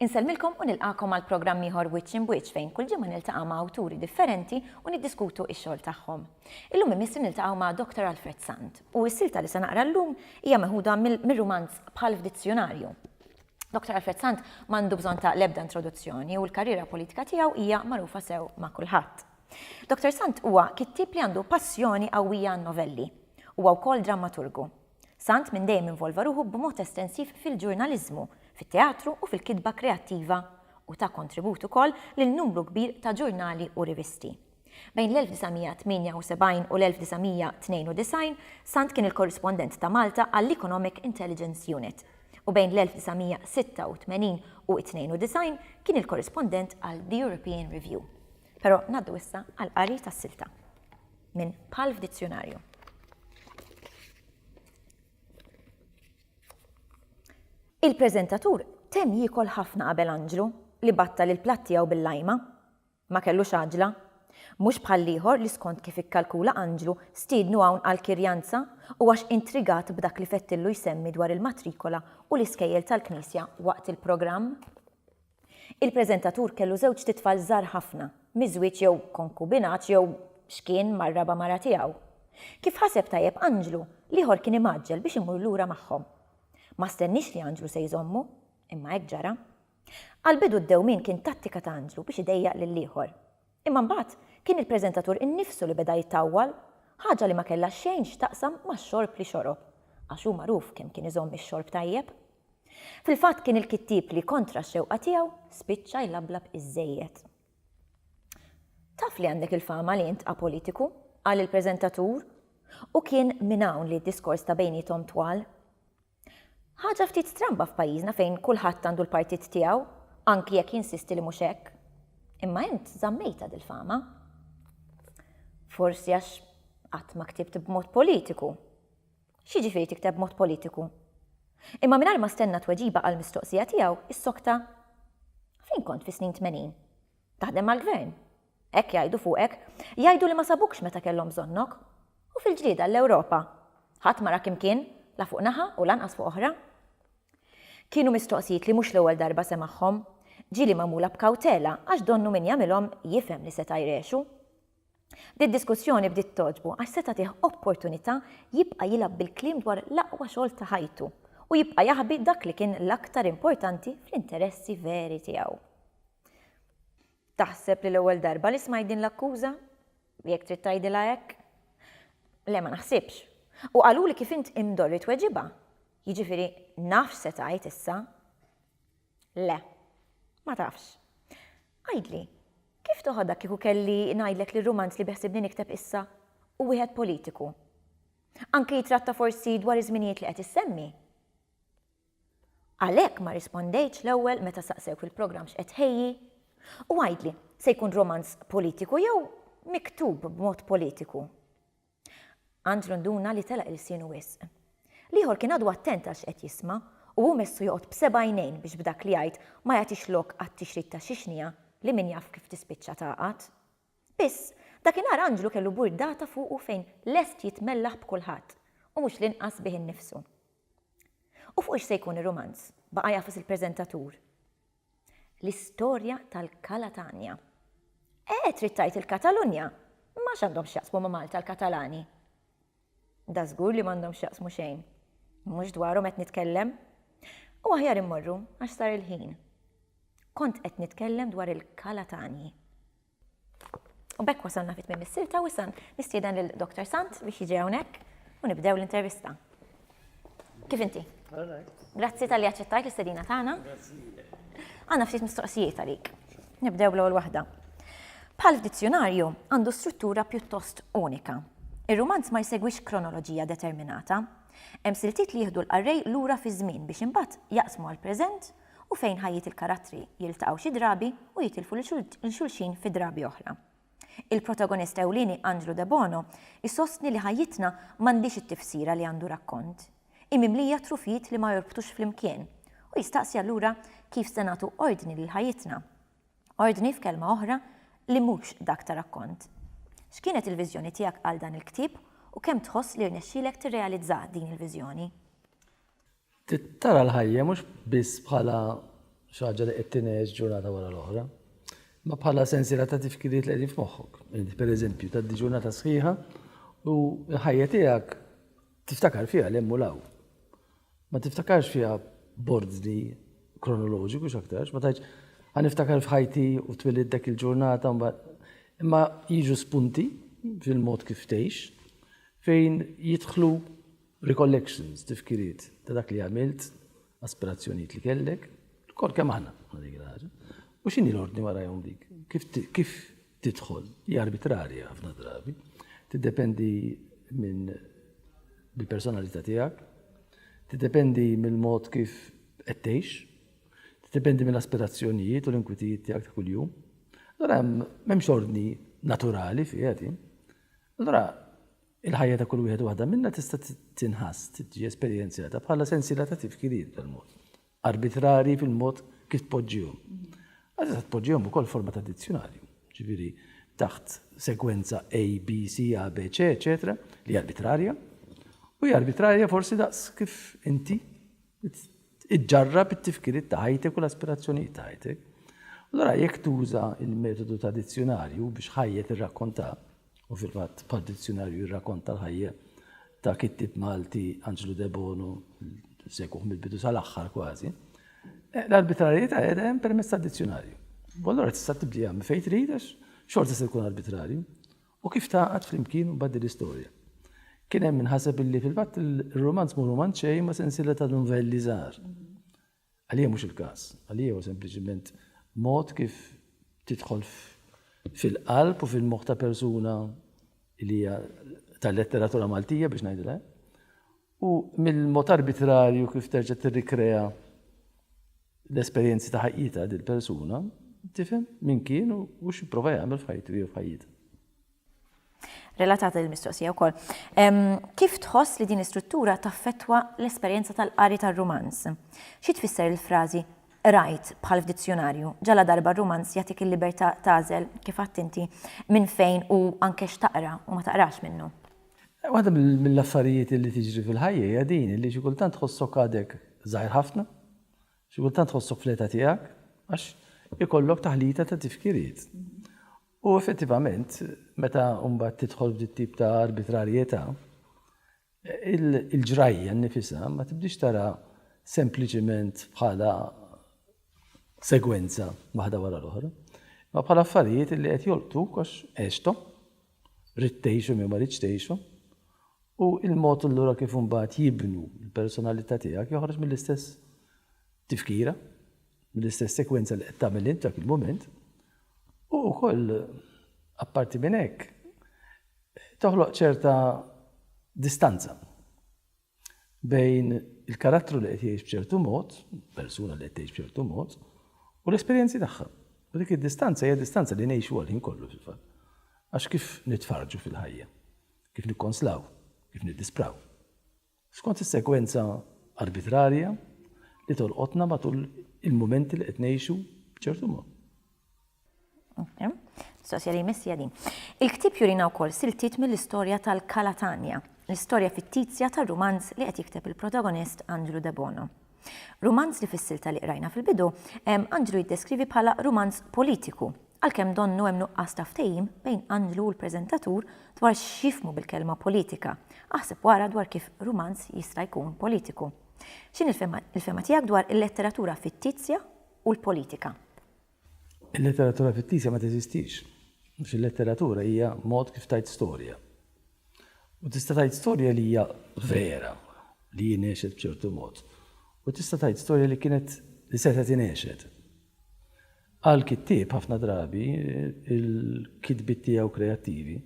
Insellmilkom u nilqakom għal programm ieħor Wiċċ Imbwiċċ fejn kull ġimgħa niltaqa' ma' awturi differenti u niddiskutu x-xogħol tagħhom. Illum imissu niltaqgħu ma' Dr. Alfred Sant. U s-silta li se naqra llum hija meħuda mir-rumanz Bħal f'dizzjunarju. Dottor Alfred Sant m'għandu bżonn ta' l-ebda introduzzjoni u l-karriera politika tiegħu hija magħrufa sew ma' kulħadd. Dottor Sant huwa kittieb li għandu passjoni qawwija għan-novelli. Huwa wkoll drammaturgu. Sant minn dejjem involva ruħu b'mod estensiv fil-ġurnaliżmu, fit-teatru u fil-kitba kreattiva u ta kontribut ukoll lil numru kbir ta' ġurnali u rivisti. Bejn l-1978 u l-1992, Sant kien il-korrispondent ta' Malta għall-Economic Intelligence Unit, u bejn l-1986 u 92 kien il-korrispondent għal The European Review. Però ngħaddu issa għall-qari tas-silta minn Palf Dizzjunarju. Il-preżentatur temm jiekol ħafna qabel Anġlu, li battal il-platt tiegħu bil-lajma. Ma kellux għaġla. Mhux bħall-ieħor li skont kif ikkalkula Anġlu stiednu hawn għall-kirjanza u għax intrigat b'dak li fettillu jsemmi dwar il-matrikola u l-iskejjel tal-knisja waqt il-programm. Il-preżentatur kellu żewġt itfal żgħar ħafna, miżwieġ jew konkubinat jew x'kien mar-raba' mara tiegħu. Kif ħaseb tajjeb Anġlu, l-ieħor kien imgħaġġel biex imur lura magħhom. Ma stenniex li Anġlu se jżommu, imma hekk ġara. Għall-bidu d-dewmien kien tattika ta' Andrew biex idejjaq lill-ieħor. Imma mbagħad kien il-preżentatur innifsu li beda jitawwal, ħaġa li ma kellha xejn x'taqsam max-xorb li xorob, għax hu magħruf kemm kien iżomm ix-xorb tajjeb. Fil-fatt kien il-kittieb li, kontra x-xewqa tiegħu, spiċċa jlablab iżżejjed. Taf li għandek il-fama li int apolitiku, qal il-preżentatur, u kien minn hawn li d-diskors ta' bejniethom twal. Ħaġa ftit stramba f'pajjiżna fejn kulħadd għandu l-partit tiegħu, anki jekk jinsisti li mhux hekk. Imma int żammejtha dil-fama. Forsi għax qatt ma ktibt b'mod politiku. X'jiġifieri tikteb b'mod politiku? Imma mingħajr ma stenna tweġiba għall-mistoqsija tiegħu, issokta. Fejn kont fis-snin tmenin? Taħdem mal-Gvern? Hekk jgħidu fuqek. Jgħidu li ma sabukx meta kellhom bżonnok. U fil-ġlieda għall-Ewropa? Ħadd ma rak imkien, la fuq naħa u lanqas fuq oħra. Kienu mistoqsijiet li mhux l-ewwel darba semagħhom. Ġieli magħmula b'kawtela għax donnu min jagħmilhom jifhem li seta' jrexu. Did-diskussjoni bdiet togħġbu għax se tagħtih opportunità jibqa' jilgħab bil-kliem dwar l-aqwa xogħol ta' ħajtu u jibqa' jaħbi dak li kien l-aktar importanti fl-interessi veri tiegħu. Taħseb li l-ewwel darba li smajt din l-akkuża? Jekk trid tgħidilha hekk. Le, ma naħsibx. U qaluli kif int imdorri tweġibha. Jiġifieri naf x'se tgħid issa. Le. Ma tafx. Għidli, kif toħodha kieku kelli ngħidlek li r-rumanz li beħsibni nikteb issa hu wieħed politiku? Anki jitratta forsi dwar iż-żminijiet li qed issemmi? Għalhekk ma rispondejtx l-ewwel meta saqsewk il-programm x'qed tħejji? U għidli, se jkun romanz politiku jew miktub b'mod politiku? Andrew nduna li telaq ilsienu wisq. L-ieħor kien għadu attent għal x'qed jisma' u hu messu joqgħod b'seba' għajnejn biex b'dak li jgħid ma jagħtix lok għat-tixrid ta' xi xniegħa li min jaf kif tispiċċa tagħqad. Spiss, dakinhar anġlu kellu burdata fuqu fejn lest jitmellaħ b'kulħadd, u mhux l-inqas bih innifsu. U fuq x'se jkun ir-rumanz? Baqa' jagħfas il-preżentatur. L-istorja tal-Kalatanja. Eh, trid tgħid il-Katalunja? Ma x'għandhom x'jaqsmu ma' Malta l-Katalani? Da żgur li m'għandhom x'jaqsmu xejn. Mhux dwarhom qed nitkellem. U aħjar immorru għax sar il-ħin. Kont qed nitkellem dwar il-Kalatanji. U b'hekk wasalna fi tmiem is-silta u issa nistieden lil Doktor Sant biex jiġi hawnhekk u nibdew l-intervista. Kif inti? Grazzi tal-li għacċettajt l-istedina tagħna. Għanna ftit mistoqsijiet għalik. Nibdew l-ewwel waħda. Bħal dizzjonarju għandu struttura pjuttost unika. Ir-rumanz ma jsegwix kronoloġija determinata. Hemm siltiet li jieħdu l-qarrej lura fi żmien biex imbagħad jaqsmu għal preżent u fejn ħajjiet il-karattri jiltaqgħu xi drabi u jitilfu lil xulxin fi drabi oħra. Il-protagonist ewlieni Angelo Debono jsostni li ħajjitna m'għandhiex it-tifsira li għandu rakkont. Hi mimlija trufijiet li ma jorbtux flimkien. Hu jistaqsi allura kif se nagħtu ordni lil ħajjitna. Ordni, f'kelma oħra, li mhux dak ta' rakkont. X'kienet il-viżjoni tiegħek għal dan il-ktieb u kemm tħoss li rnexxielek tirrealizza din il-viżjoni? Trid tara l-ħajja mhux biss bħala xi ħaġa li qed tingħex ġurnata wara l-oħra, imma bħala sensiela ta' tifkiriet li qegħdin f'moħħok. Inti pereżempju tgħaddi ġurnata sħiħa u l-ħajja tiegħek tiftakar fiha l-hemm u l-hawn. Ma tiftakarx fiha b'ordni kronoloġiku x'aktarx, ma tgħidx ħa niftakar f'ħajti u twilid dak il-ġurnata imma jiġu spunti fil-mod kif tgħix fejn jidħlu Recollections, tifkiriet ta' dak li għamilt, aspirazzjonijiet li kellek, kol kemm aħna ma' dik il-ħaġa. U x'inhi l-ordni warajhom dik? Kif tidħol? Hi arbitrarja ħafna drabi. Tiddependi minn bil-personalità tiegħek, tiddependi mill-mod kif qed tgħix, tiddependi mill-aspirazzjonijiet u l-inkwitijiet tiegħek ta' kuljum. Allora m'hemmx ordni naturali fiha din. Allora Il-ħajja ta' kull wieħed u waħda minna tista' tinħass, tiġi esperjenzjata bħala sensiela ta' tifkirijiet b'dan mod, arbitrarji fil-mod kif tpoġġihom. Għad tista' tpoġġihom ukoll forma ta' dizzjunarju, ġifieri taħt segwenza A, B, C, A, B, C, eċetera, li hija arbitrarja, u hija arbitrarja forsi daqs kif inti Iġġarrab it-tifkiriet ta' ħajtek u l-aspirazzjonijiet ta' ħajtek. Allura jekk tuża l-metodu ta' dizzjunarju biex ħajja tirrakkonta, u fil-fatt bħal dizzjunarju jirrakkonta l-ħajja ta' kittib Malti Anġlu Debono, segwuh mill-bidu sal-aħħar kważi, eh, l-arbitrarjetà qiegħda hemm permezz tad-dizzjunarju. Allura tista' tibdieha minn fejn trid għax xorta se jkun arbitrarju. U kif tgħaqqad flimkien mbagħad din l-istorja? Kien hemm min ħaseb illi fil-fatt ir-rumanz mhu rumanz xejn ma' sensiela ta' nuvelli żgħar. Għalija mhux il-każ, għalija huwa sempliċiment mod kif tidħol fil-qalb u fil-moħħ ta' persuna li hija tal-letteratura Maltija biex ngħidilha. U mill-mod arbitrarju kif terġa' tirrikrea l-esperjenzi ta' ħajjitha din il-persuna, tifhem min kien u x'ipprova jagħmel f'ħajtu jew f'ħajjitha. Relatata l-mistoqsija wkoll. Kif tħoss li din l-istruttura taffettwa l-esperjenza tal-qari tar-rumanz? Xi tfisser il-frażi qrajt bħal f'dizzjunarju, ġala darba r-rumanz jagħtik il-libertà tagħżel, kif għedt inti, minn fejn u anke x'taqra u ma taqrax minnu? Waħda mill-affarijiet li tiġri fil-ħajja hija din, li xi kultant tħossok għadek żgħir ħafna, xi kultant tħossok fl-età tiegħek, għax ikollok taħlita ta' tifkiriet. U effettivament, meta mbagħad tidħol f'dit tip ta' arbitrarjetà, il-ġrajja nifisha ma tibdix tara sempliċiment bħala segwenza waħda wara l-oħra, ma bħala affarijiet li qed jolqtu għax għextom Ridt tgħix u min ma ridx tgħixu. U l-mod allura kif imbagħad jibnu l-personalità tiegħek joħroġ mill-istess tifkira, mill-istess sekwenza li qed tagħmel int dak il-mument. U wkoll apparti minn hekk toħloq ċerta distanza. bejn il-karattru li qed jgħix b'ċertu mod, persuna li qed tgħix b'ċertu mod, u l-esperjenzi tagħha. U dik id-distanza hija distanza li ngħixu għal ħin kollu fil-fatt. Għax kif nitfarġu fil-ħajja, kif nikkonslaw, kif niddispraw. Skont is-sekwenza arbitrarja li tolqotna matul il-mumenti li qed ngħixu b'ċertu mod. Mistoqsija li jmiss hija din. Il-ktieb jurina wkoll siltiet mill-istorja tal-Kalatanja, l-istorja fittizja tar-rumanz li qed jikteb il-protagonist Andrew Debono. Rumanz li fis-silta li qrajna fil-bidu, Andrew jiddeskrivi bħala rumanz politiku, għalkemm donnu hemm nuqqas ta' ftehim bejn Andrew u l-preżentatur dwar x'jifhmu bil-kelma politika. Aħseb u ara dwar kif rumanz jista' jkun politiku. X'inhi l-fehma tiegħek dwar il-letteratura fittizja u l-politika? Il-letteratura fittisja ma teżistix, għax il-letteratura hija mod kif tgħid storja. U tista' tgħid storja li hija vera, li hi ngħexet b'ċertu mod, u tista' tgħid storja li kienet li setgħet ingħexet. Għal kittieb ħafna drabi il-kitbiet tiegħu kreattivi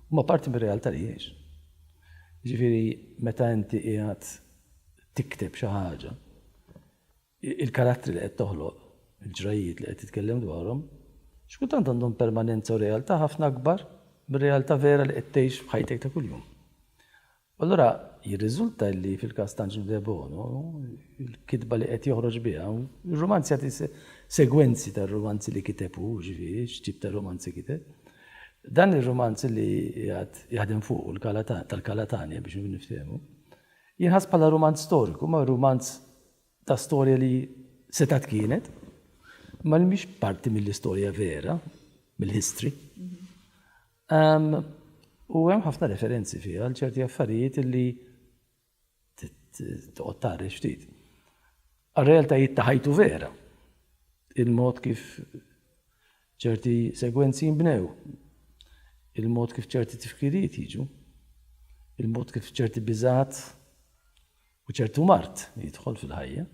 huma parti mir-realtà li jgħix. Ġifieri meta inti qiegħed tikteb xi ħaġa, Il-karattri li qed toħloq, il-ġrajjiet li qed titkellem dwarhom, xi kultant għandhom permanenza u realtà ħafna akbar mir-realtà vera li qed tgħix f'ħajtek ta' kuljum. U allura jirriżulta li fil-każ ta' Angelo Debono, il-kitba li qed joħroġ biha, ir-rumanz jagħti segwenzi tar-rumanzi li kiteb hu, jiġifieri x'tip ta' rumanzi kiteb. Dan ir-rumanz li qiegħed jaħdem fuqu l-Kala tal-Kala Tanja biex niftehmu, jinħass bħala rumanz storiku, imma rumanz ta' storja li setgħet kienet, imma li mhix parti mill-istorja vera, mill-history. U hemm ħafna referenzi fiha għal ċerti affarijiet li toqgħod tagħrel ftit. Għal-realtajiet ta' ħajtu vera. Il-mod kif Ċerti segwenzi jinbnew, il-mod kif ċerti tifkirijiet jiġu, il-mod kif ċerti biżgħat u ċertu mard jidħol fil-ħajja,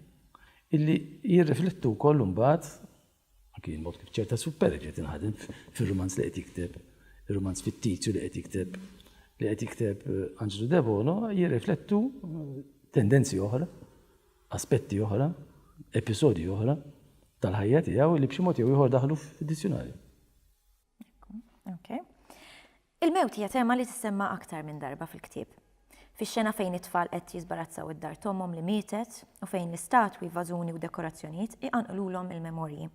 illi jirriflettu wkoll imbagħad anki il-mod kif ċerta superġi tinħadem fir-rumanz li qed jikteb, ir-rumanz fittizju li qed jikteb, li qed jikteb Anġlu Debono jirriflettu tendenzi oħra. aspetti oħra, episodji oħra tal-ħajja tiegħu li b'xi mod jew ieħor daħlu fid-dizzjunarju. Okay. Il-mewt hija tema li tissemma aktar minn darba fil-ktieb. Fix-xena fejn it-tfal qed jiżbarazzaw id-dar tomhom li mietet u fejn l-istatwi, vażuni u dekorazzjonijiet iqanqlulhom il-memorji.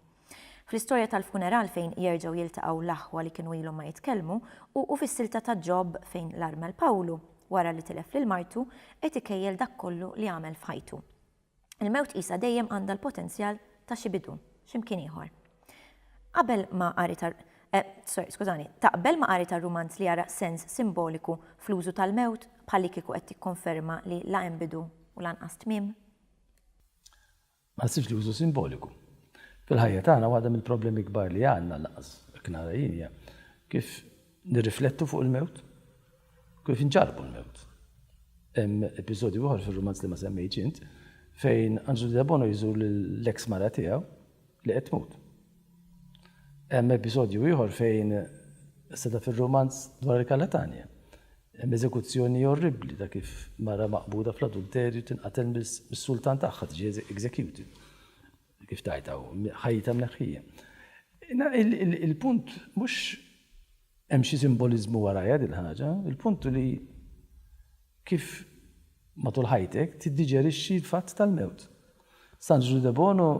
Fl-istorja tal-funeral fejn jerġgħu jiltaqgħu l-aħwa li kienu ilhom ma jitkellmu u u fis-silta ta' Ġob fejn l-armel Pawlu, wara li tilef lil martu, qed ikejjel dak kollu li għamel f'ħajtu. Il-mewt qisha dejjem għandha l-potenzjal ta' xi bidu, x'imkien ieħor. Qabel ma' qari ta' eh, sorry, skużani, taqbel ma' qari tar-rumanz li jara sens simboliku fl-użu tal-mewt bħallikieku qed tikkonferma li la hemm bidu u lanqas tmiem? Ma nħsibx li użu simboliku. Fil-ħajja tagħna waħda mill-problemi kbar li għandna, lanqas hekk nara jien, hija kif nirriflettu fuq il-mewt, kif inġarrbu l-mewt. Hemm episodju ieħor fir-rumanz li ma semmejtx int fejn Anġlu Debono jżur lill-eks mara tiegħu li qed tmut. Hemm episodju ieħor fejn, seta' fir-rumanz dwar il-Kalatanja, hemm eżekuzzjoni orribbli ta' kif mara maqbuda fl-adulterju tinqatel mis-sultan tagħha, tiġi executed, kif tgħid hawn, ħajjitha mneħħija. Il-punt mhux hemm xi simboliżmu warajha dil-ħaġa, il-punt hu li kif matul ħajtek tiddiġerixxi l-fatt tal-mewt. San Ġużu Debono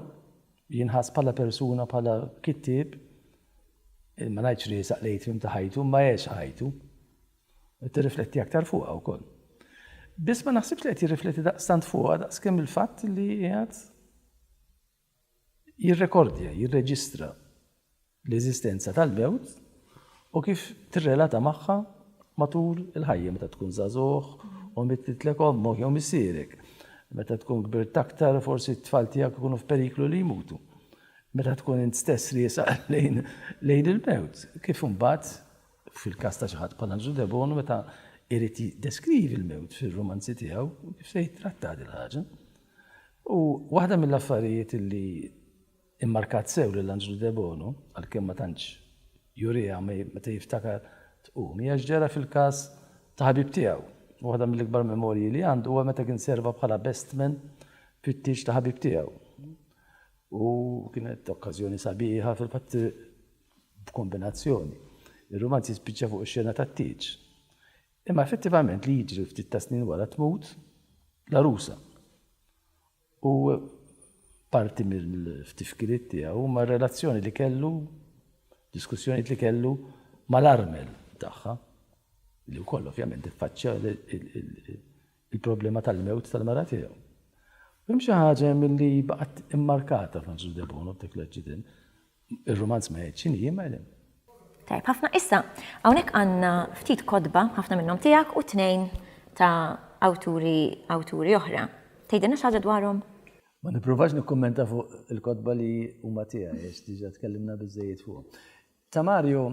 Jinħass bħala persuna, bħala kittieb, ma ngħidx li jisaq l-atrium ta' ħajtu, imma għex ħajtu. Qed tirrifletti aktar fuqha wkoll. Biss ma naħsibx li qed jirrifletti daqstant fuqha daqskemm il-fatt li qiegħed jirrekordja, jirreġistra. l-eżistenza tal-mewt u kif tirrelata magħha matul il-ħajja meta tkun żagħżugħ u mittitlek ommok jew missierek. Meta tkun kbirt aktar forsi t-tfal tiegħek ikunu f'periklu li jmutu. Meta tkun int stess riesaq lejn lejn il-mewt. Kif imbagħad fil-każ ta' xi ħadd bħal Anġlu Debono meta jrid jiddeskrivi l-mewt fir-rumanzi tiegħu kif se jittrattah din il-ħaġa. U waħda mill-affarijiet li Immarkat sew lil Anġlu Debono, għalkemm ma tantx juriha meta jiftakar tqum, hija x'ġara fil-każ ta' ħabib tiegħu. Waħda mill-ikbar memorji li għandu huwa meta kien serva bħala bestman fit-tieġ ta' ħabib tiegħu. U kienet okkażjoni sabiħa, fil-fatt b'kombinazzjoni. Ir-rumanz jispiċċa fuq ix-xena tat-tieġ. Imma effettivament li jiġri ftit tas-snin wara tmut l-għarusa. u parti mill-ftifkiriet tiegħu huma r-relazzjoni li kellu, diskussjonijiet li kellu mal-armel tagħha, li wkoll ovvjament iffaċċja l-problema tal-mewt tal-mara tiegħu. Hemm xi ħaġa milli baqgħet immarkata Francis Debono f'dak l-aċċident. Ir-rumanz ma jgħidx x'inhi, imma qegħdin. Tajjeb ħafna. Issa, hawnhekk għandna ftit kotba, ħafna minnhom tiegħek u tnejn ta' awturi awturi oħra. Tgħidilna xi ħaġa dwarhom? Ma nippruvax nikkummenta fuq il-kotba li huma tiegħi għax diġà tkellimna biżejjed fuqhom. Ta' Mario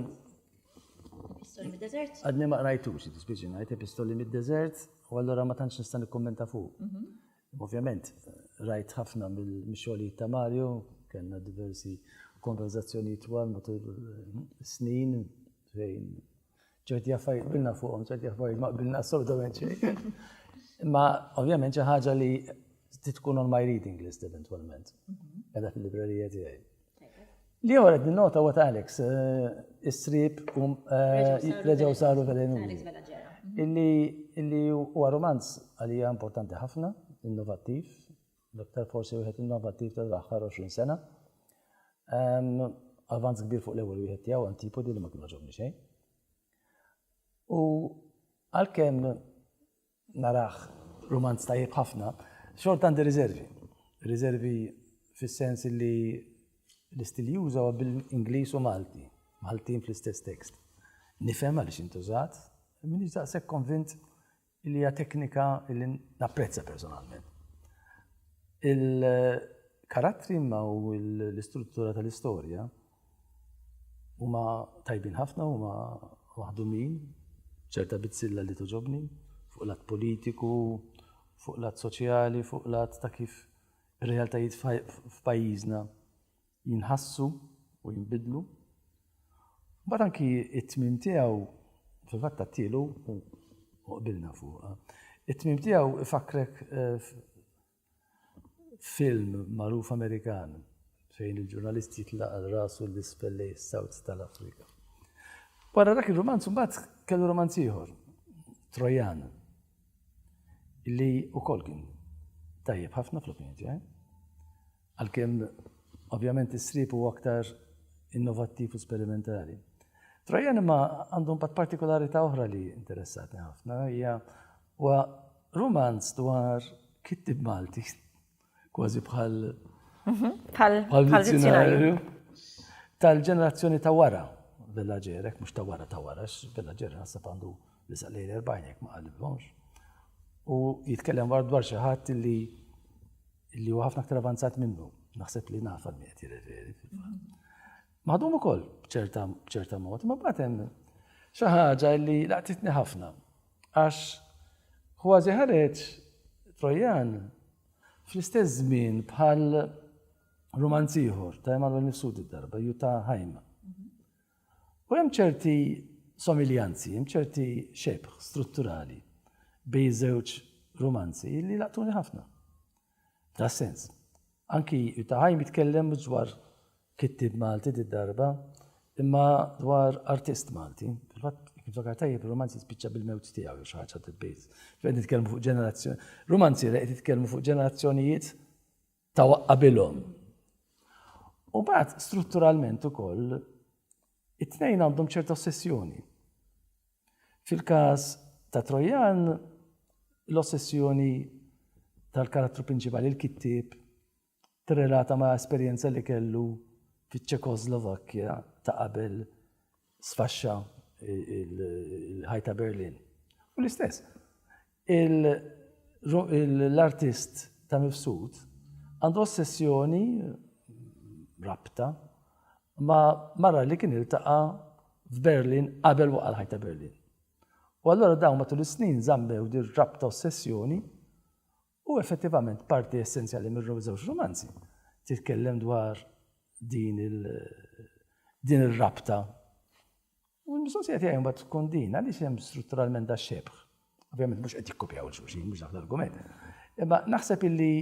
Epistoli mid-Deżert? Għadni ma qrajtux, tispiċi ngħid Epistoli mid-Deżert, u allura ma tantx nista' nikkummenta fuq. Mhm. Ovvjament, rajt ħafna mill-xogħlijiet ta' Mario, kellna diversi konverzazzjoni twal matul snin fejn ċerti affarijiet bilna fuqhom, ċerti affarijiet ma bilna assolutament xejn. Imma ovvjament xi ħaġa li tkun on my reading list eventwalment. Qeda mhm. fil-librerija tiegħi. Li jew qed nota what Alex, is-sriep reġgħu saru velenuri. Illi huwa romanz għalija importanti ħafna, innovattiv, l-aktar forsi wieħed innovattiv tal-aħħar 20 sena. Avanz kbir fuq l-ewwel wieħed tiegħu antipodi li ma kienu ġobni xejn. U għalkemm narah rumanz tajjeb ħafna, xorta għandi riservi. Riservi fis-sens li l-istil juża huwa bil-Ingliż u Malti, Maltin fl-istess tekst. Nifhem għaliex intużat, minix daqshekk konvint li hija teknika li napprezza personalment. Il-karattri ma u l-istruttura tal-istorja Huma tajbin ħafna, huma maħdumin, ċerta bizzilla li toġobni, fuq lat politiku, fuq lat soċjali, fuq lat ta' kif ir-realtajiet f'pajjiżna jinħassu u jinbidlu. Bat anki it-tmim tiegħu fil-fatt tat-tielu u qbilna fuqha. It-tmim tiegħu ifakrek eh, Film magħruf Amerikan fejn il-ġurnalist jitlaqa' rasu l-isfel lejn is-South tal-Afrika. Wara dak ir-rumanz imbagħad kellu rumanz ieħor, Trojan, li wkoll kien tajjeb ħafna fl-opinjoni tiegħi. Għalkemm ovvjament is-srib huwa aktar innovattiv u sperimentali. Trojan imma għandhom pat partikolarità oħra li interessatni ħafna, hija Huwa rumanz dwar kittieb Malti, kważi bħal bħal-dizzjonarju tal-ġenerazzjoni ta' wara villaġġerek, mhux ta' wara ta' wara, villaġġer naħseb għandu li saqlejn erbajn jekk ma qalibhomx. U jitkellem war dwar xi ħadd li li huwa ħafna aktar avanzat minnu. Naħseb li nafa li qed jirreferi. Maħdum ukoll b'ċerta mod, ma bad hemm xi ħaġa li laqtitni ħafna. Għax kważi ħareġ Trojan fl-istess żmien bħal rumanz ieħor ta' Emanuel Mifsud id-darba, ju ta' Ħajma. U hemm ċerti somiljanzi, hemm ċerti xebħ strutturali bej żewġ rumanzi li laqtuni ħafna. Ta' sens. Anki Jutta Heim jitkellem mhux dwar kittieb Malti did-darba, imma dwar artist Malti. Fil-fatt, jekk niftakar tajjeb, ir-rumanz jispiċċa bil-mewt tiegħu jew xi ħaġa tal-bejt. Qed nitkellmu fuq ġenerazzjoni. Rumanziera qed jitkellmu fuq ġenerazzjonijiet ta' qabilhom. U mbagħad strutturalment ukoll It-tnejn għandhom ċerta ossessjoni. Fil-każ ta' Trojan, l-ossessjoni tal-karattru prinċipali, il-kittieb, tirrelata ma' esperjenza li kellu fiċ-Ċekoslovakkja ta' qabel sfaxxa il-ħajta Berlin. U l-istess, L-artist ta' Mifsud għandu ossessjoni, rabta, ma' mara li kien iltaqa' f'Berlin qabel waqa' l-Ħajt ta' Berlin. U allura dawn matul is-snin żammew din rabta ossessjoni u effettivament parti essenzjali miż-żewġ rumanzi titkellem dwar din ir-rabta. U l-mistoqsija tiegħi mbagħad tkun din, għaliex hemm strutturalment da xebħ? Ovvjament mhux qed jikkopjaw xulxin, mhux dak l-argument. Imma naħseb illi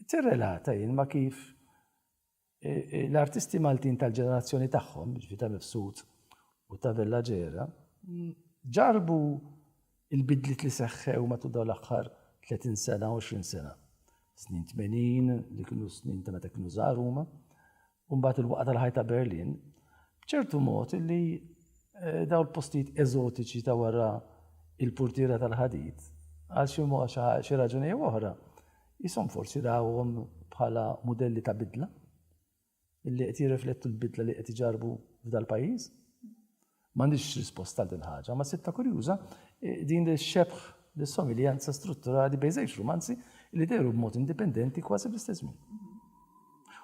tirrelata jien ma kif e, e, l-artisti Maltin tal-ġenerazzjoni tagħhom, ġifi ta' Mifsud u ta' Vella Ġera, ġarbu il-bidlit li seħħew matul dawn l-aħħar 30 sena, 20 sena. Snin 80, li kienu snin ta' meta kienu żgħar huma, u mbagħad il-waqgħa tal-ħajt ta' Berlin, b'ċertu mod li dawn il-postijiet eżotiċi ta' wara il-purtiera tal-ħadid, għal xi mod xi raġuni jew oħra, jisom forsi rawhom bħala mudelli ta' bidla, li qed jirriflettu l-bidla li qed iġarrbu f'dal-pajjiż. M'għandix risposta għal din il-ħaġa, ma sibtha kurjuża din li xebħ l-somiljanza strutturali bejn żewġ rumanzi li dehru b'mod indipendenti kważi bl-istess żmien.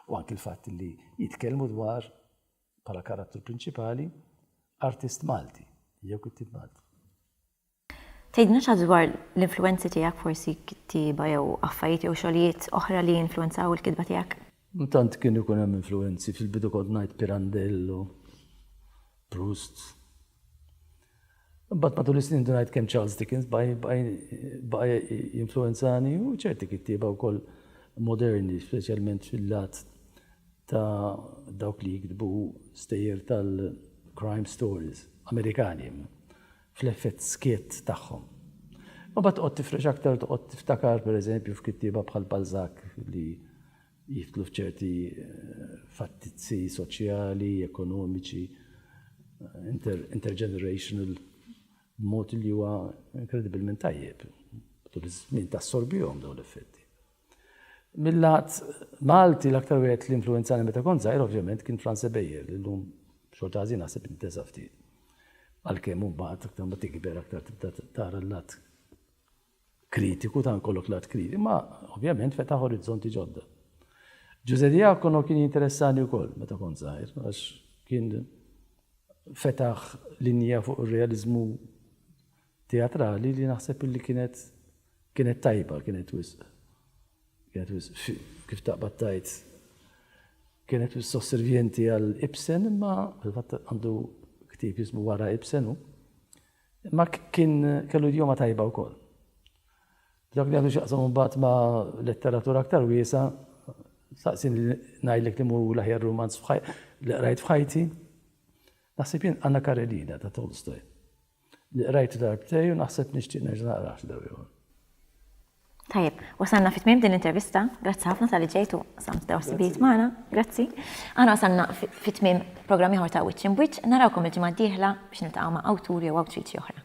U anki l-fatt li jitkellmu dwar bħala karattru prinċipali artist Malti jew kittib Malti. Tgħidilna xi ħaġa dwar l-influwenzi tiegħek, forsi kittieba jew affarijiet jew xogħlijiet oħra li influwenzaw il-kitba tiegħek? Ma tant kien ikun hemm influwenzi, fil-bidu kont ngħid Pirandello, Proust. Imbagħad matul is-snin bdejt ngħid kemm Charles Dickens baqa' jinfluwenzani u ċerti kittieba wkoll moderni, speċjalment fil-lat ta' dawk li jiktbu stejjer tal-crime stories Amerikani. fl-effett skiet tagħhom. Imbagħad toqgħod tifrex aktar u toqgħod tiftakar pereżempju f'kittieba bħal Balzac li jidħlu f'ċerti fattizzi soċjali, ekonomiċi, intergenerational b'mod li huwa inkredibilment tajjeb. Tul iż-żmien tassorbihom dawn l-effetti. Mil-lat Malti l-aktar wieħed li influwenzani meta kont żgħir ovvjament kien Frans Ebejer li llum b'xorta ħażina naħseb intesa' ftit. Għalkemm imbagħad aktar ma tikber aktar tibda tara l-lat kritiku ta' nkollok lat kritiku, ma ovvjament fetaħ orizzonti ġodda. Ġuże Diakono kien jinteressani wkoll meta kont żgħir għax kien fetaħ linja fuq ir-realiżmu teatrali li naħseb illi kienet kienet tajba, kienet wisq kienet wisq kif taqbad tgħid kienet wisq sosservjenti għal Ibsen imma fil-fatt għandu ktieb jismu wara Ibsen hu. Imma kien kellu idjoma tajba wkoll. Dak li għandu xaqsam mbagħad ma' letteratura aktar wiesa, saqsin li ngħidlek li mu l-aħjar romanz li qrajt f'ħajti. Naħseb jien Anna Karenina ta' Tolstoj. Li qrajtu darbtej u naħseb nixtieq nerġa' naqrah xi darba ieħor. Tajjeb, wasalna fi tmiem din l-intervista. Grazzi ħafna tal-li ġejt u qsamt dawn is-sibijiet magħna. Grazzi. Aħna wasalna fi tmiem programm ieħor ta' Wiċċ Imb'Wiċċ. Narawkom il-ġimgħa d-dieħla biex niltaqgħu ma' awtur jew awtriċi oħra.